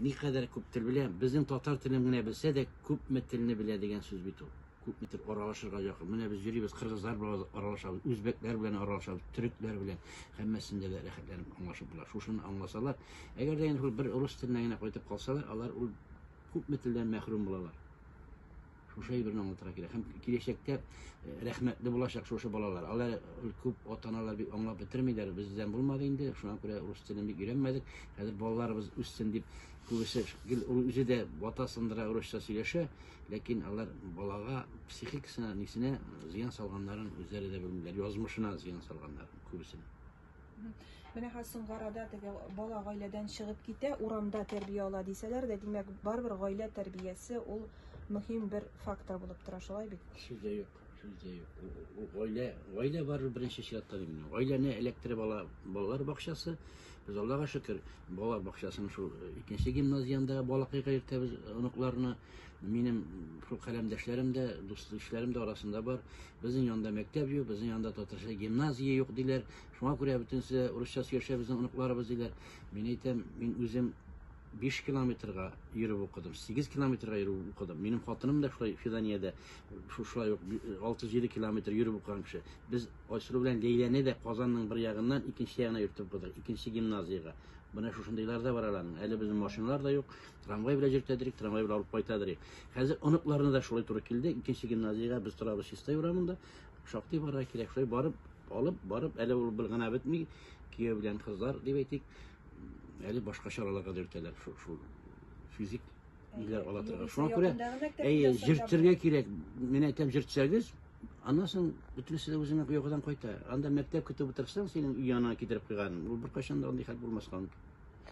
Никадәр күп тел белә? Безнең татар телен генә белсә дә, күпме телне белә дигән сүз бит ул. Күпме тел аралашырга якын. Менә без йөрибез, кыргызлар белән аралашабыз, үзбәкләр белән аралашабыз, төрекләр белән. Һәммәсендә дә рәхәтләнеп аңлашып була. Шушыны аңласалар, әгәр дә инде бер рус теленә генә кайтып калсалар, алар ул күпме телдән мәхрүм булалар. Шушы әйберне аңлатырга кирәк. Һәм киләчәктә э, рәхмәтле булачак шушы балалар. Алар э, күп ата-аналар бик аңлап бетермиләр. Бездән булмады инде. Шуңа күрә рус телен бик өйрәнмәдек. Хәзер балаларыбыз үссен дип күбесе гел үзе дә бата сындыра русча сөйләшә, ләкин алар балага психикасына, нисенә зыян салганнарын үзләре дә белмиләр. Язмышына зыян салганнар күбесенең. Менә хәзер соңгы арада теге бала гаиләдән чыгып китә, урамда тәрбия ала дисәләр дә, димәк, барыбер гаилә тәрбиясе ул мөһим бер фактор булып тора, шулай бит? Сүз дә юк, сүз дә юк. Ул гаилә, гаилә бар беренче чиратта мин. Гаиләне эләктереп ала балалар бакчасы. Без Аллага шөкер, балалар бакчасының шул э, икенче гимназиянда балакайга йөртәбез оныкларны. Минем шул каләмдәшләрем дә, дус-ишләрем дә арасында бар. Безнең янда мәктәп юк, безнең янда татарча гимназия юк диләр. Шуңа күрә бөтенесе урысча сөйләшә безнең оныкларыбыз диләр. Мин әйтәм, мин үзем 5 километрга йөреп укыдым, 8 километрга йөреп укыдым. Минем хатыным да шулай Фиданиядә, шулай ук 6-7 километр йөреп укыган кеше. Без Айсылу белән Ләйләне дә Казанның бер ягыннан икенче ягына йөртеп укыдык, икенче гимназиягә. Менә шушындыйлар да бар аларның. Әле безнең машиналар да юк, Трамвай белән җиртәдерик, трамвай белән алып кайтадырыйк. Хәзер оныкларына да шулай туры килде. Икенче гимназиягә без торабыз Чистай урамында. Шактый барырга кирәк. Шулай барып, алып, барып, әле ул бер генә бетми. Кияү белән кызлар, дип әйтик, әле башка чараларга да йөртәләр. Шул, шул физик ниләр ала торган. Шуңа күрә, әйе, җиртергә кирәк. Мин әйтәм, җиртсәгез, аннан соң бөтенесе дә үзеңә йокыдан кайта. Анда мәктәп көтеп утырсаң, синең өй янына китереп куйган. Ул беркайчан да андый хәл булмаска мөмкин.